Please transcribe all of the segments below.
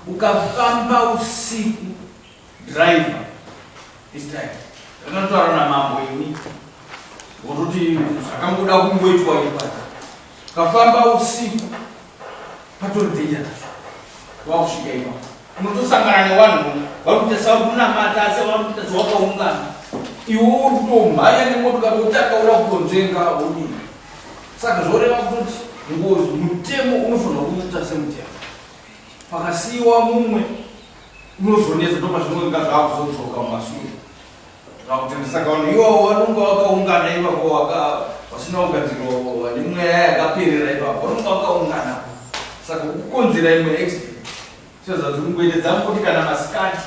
ukafamba usiku driver this time ndakatotaura namambo ini wototi zvakangoda kungoitwa ipa ukafamba usiku patori dhenja nacho wakusvika ipa unotosangana newanhu vari kuita sakunamata asi vari kuita sawakaungana iwe uri kutomhanya nemotokari wotanga wakutonzvenga wodii Saka zvoreva kuti ngozi mutemo unofanirwa kuita semutemo. Pakasiyiwa mumwe unozonetsa ndopazvinonga zvakuzodzoka mumasure. Zvakutenda saka vanhu iwawo vanonga vakaungana ivako vasina kugadzirwa vane mweya yakaperera ivako vanonga vakaungana saka kukonzera imwe accident. Sezvo dziri kuende dzangu kuti kana masikati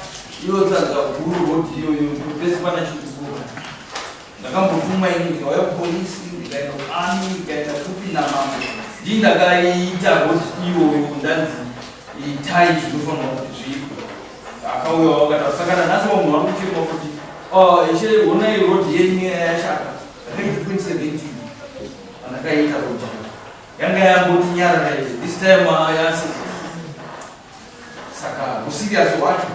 iyo tsanza guru roti iyo iyo pese pana chikukura. Ndakambotuma ini ndikauya kupolisi ndikaenda kuami ndikaenda kupi namambo. Ndii ndakaita roti iyoyo ndanzi itai zvinofanira kuti zviitwe. Akauya wakati asakana nhasi vamwe vari kuchema kuti oh, ishe honai roti yenyu yashaka. Ndakaiita roti. yanga yangoti nyarara izi this time yasi saka usiriasi wacho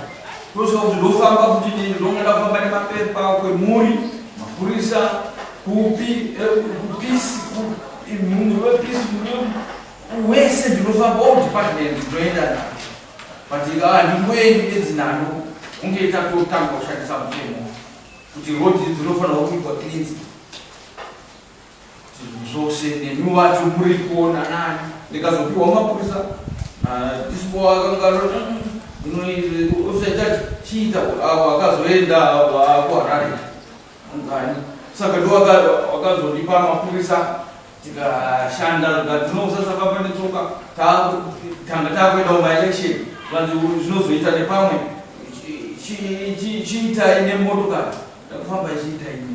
ndoziva kuti ndofamba kuti nini ndongada kufamba nemapepa kwemhuri mapurisa kupi kupisi munhu wepisi wese ndinofamba all department ndinoenda na but ah, ndingoendi nedzinano kunge itatotanga kushandisa mutemo kuti rodi dzinofanirwa kuitwa cleansi Zvinhu zvose nemi wacho muri kuona nani ndikazopiwa mapurisa dispo akangaro unoita chiita avo akazoenda kuharare ungani saka ndo wakazondipa mapurisa tikashanda zvatinozasakamba netsoka tanga takuenda umaelection vanzi zvinozoita nepamwe chiitai nemotokari ndakufamba chiitai